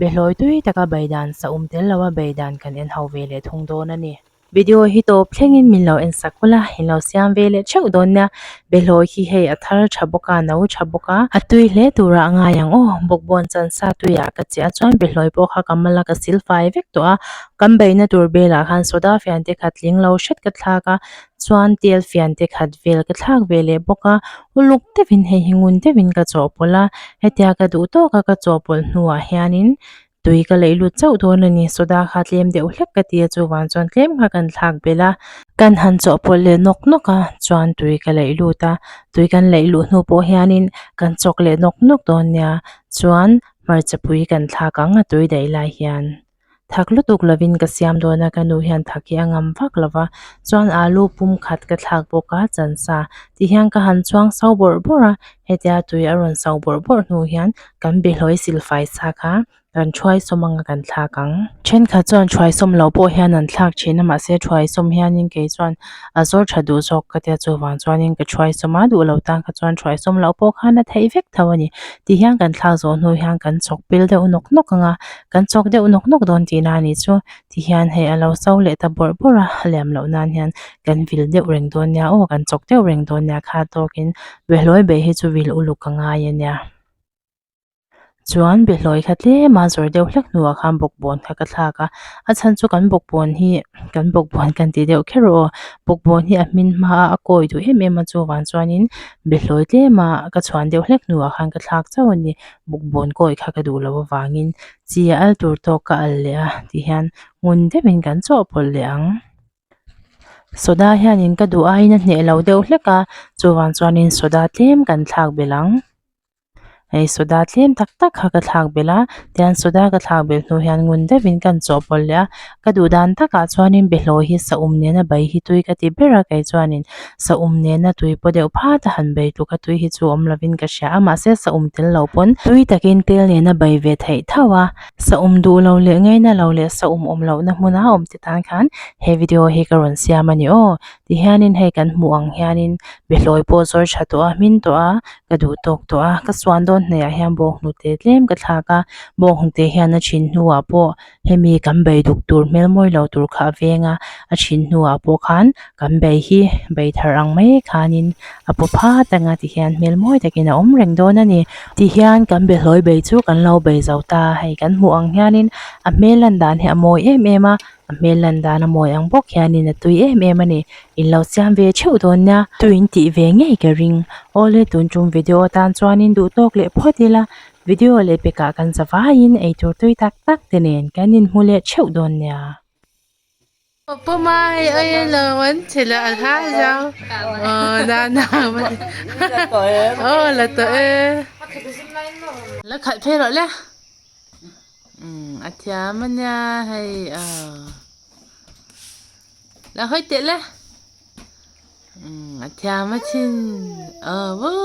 Behlawi tui taka bei dan sa um tel lo a, bei dan kan en ho ve leh thung dawn a ni. Video hi tawp thlengin min lo en sak kul a, in lo siam ve leh theuh dawn nia, behlawi hi hei a thar tha bawk a, a no tha bawk a, a tui hle tura a ngai ang aw, bawkbawn chansa tuiah ka chiah chuan behlawi pawh kha ka mal a, ka sil fai vek tawh a, kan beihna tur belah khan soda fian te khat tling lo hret ka thlak a, Chuan tial fian te khat vel ka thlak ve leh bawk a, uluk deuhin hei hi ngun deuhin ka chawhpawlh a, hetia ka duh tawk a ka chawhpawlh hnuah hianin tui ka laih lut chauh dawn a ni, soda kha tlem deuh hlek ka ti a chuvang chuan tlem kha kan thlak belh a, kan han chawhpawlh leh nawk nawk a chuan tui ka laih lut a, tui kan laih luh hnu pawh hianin kan chawk leh nawk nawk dawn nia chuan hmarcha pui kan thlak ang a tui daih lai hian. Thak lutuk lovin ka siam dawn a, ka nu hian thak hi a ngam vak lo va, chuan alu pum khat ka thlak bawk a, chan sa tih hian ka han chuang sau bawrh bawrh a, hetia tui a rawn sau bawrh bawrh hnu hian kan bihlawih silfai sa kha kan thuai sawm anga kan thlak ang. Thenkhat chuan thuai sawm loh pawh hian an thlak thin a, mahse thuai sawm hianin kei chuan a zawr tha duh zawk ka tia chuvang chuanin ka thuai sawm a, duh lo tan kha chuan thuai sawm loh pawh khan a theih vek tho a ni tih hian kan thlak zawh hnu hian kan chawk pel deuh nawk nawk anga Kan chawk deuh nawk nawk dawn tih na ni chu, ti hian hei a lo chau leh ta bawrh bawrh a, a liam loh nan hian kan vil deuh reng dawn nia aw, kan chawk deuh reng dawn nia kha tawkin Behlawi be hi chu vil uluk a ngai a nia. Chuan Behlawi kha tlema zawrh deuh hlek hnua khan bawkbawn kha ka thlak a, a chhan chu kan bawkbawn hi, kan bawkbawn kan ti deuh kher aw, bawkbawn hi a hmin hma a, a kawi duh em em a chuvang chuanin Behlawi tlema ka chhuan deuh hlek hnua khan ka thlak chauh a ni. bawkbawn kawi kha ka duh loh avangin chi a al tur tawk ka al leh a tih hian ngun deuhin kan chawhpawlh leh ang soda hianin ka duh aiin a hneh loh deuh hlek a chuvang chuanin soda tlem kan thlak belh ang hei soda tlem tak tak kha ka thlak belh a tian soda ka thlak belh hnu hian ngun deuhin kan chawhpawlh leh a. Ka duh dan takah chuanin behlaw hi sahum nena bai hi tui ka ti ber a, kei chuanin sahum nena tui pawh deuh phat a han bei tluk a, tui hi chu awm lovin ka hria a, mahse sahum tel lo pawn tui takin tel nena bai ve theih thauh a, sahum duh lo leh ngaina lo leh sahum awm lohna hmuna awm te tan khan he video hi ka rawn siam a ni aw. Tihianin hei kan hmuh ang hianin behlawi pawh zawi tha tawh a, hmin tawh a, ka duh tawk tawh a, ka suan dawn hnaiah hian bawk hnute tlem ka thlak a, bawk hnute hian a thin hnuah pawh. hemi kan beiduk tur hmel mawi lo tur kha a veng a a chhin hnuah pawh khan kan bei hi bei thar ang mai khanin a paw phat anga tihian hmel mawi takin a awm reng dawn a ni tihian kan be hlawi bei chu kan lo bei zo ta hei kan hmuh ang hianin a hmel lan dan hi a mawi em em a a hmel lan dan a mawi ang bawk hianin a tui em em a ni in lo siam ve theuh dawn nia tuiin tih ve ngei ka ring awle tun tum video atan chuanin duhtawk leh phawt ila. Video leh pekah kan za vaiin eitur tui tak tak te nen kan inhmu leh theuh dawn nia. Pawpawma hei a en lo an che la a hla zau aww nana aww la tawh e la khalh phei rawh le umm a thiam a nia hei aww la hawi teh le umm a thiam a thin aww woo.